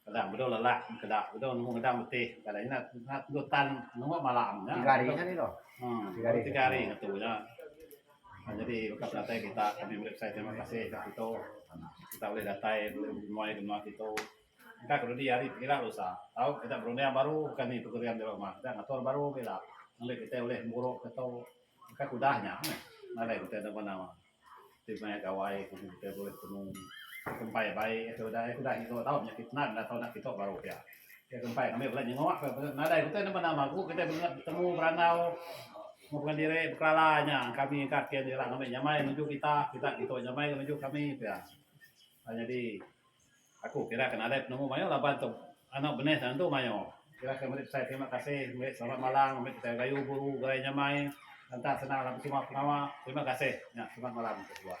Kadang bedau lelak keda bedau nemu ngedang betih kadang ina tentu tan nemu malam nya. Tiga hari nya deh tu. Uhh baru tiga hari ngetu nya. Nyadi baka penatai kita kami meri pesai terima kasih ka kitu kita ulih datai ulih nyuai ke menua kitu. Engka ke dudi hari pekira ku usa tau kita berunding baru bukan nya program jero uma kita ngatur baru gila ngambika kita ulih muru ke tu engka ke udah nya meh nadai kita dep benam. Ti maya gawai ku kitai bulih temu kempai bai ke udah ke udah iko tau nyakit nan enda tau nak kito baru pia. Ke kempai kami pulai nyengok ka nadai utai nama nama ku kitai bengat betemu berandau mung pengen diri bekelala nya kami ka kian ira ngambika nyamai nuju kita kita ngambika nyamai nuju kami pia. Nyadi Aku kira ke nadai penemu mayuh laban tu anu benih tentu mayuh. Kira ke meri pesan terima kasih meri selamat malam meri petai gayu guru garai nyamai enta senang laban terima pengawa. Terima kasih nya selamat malam ke suah.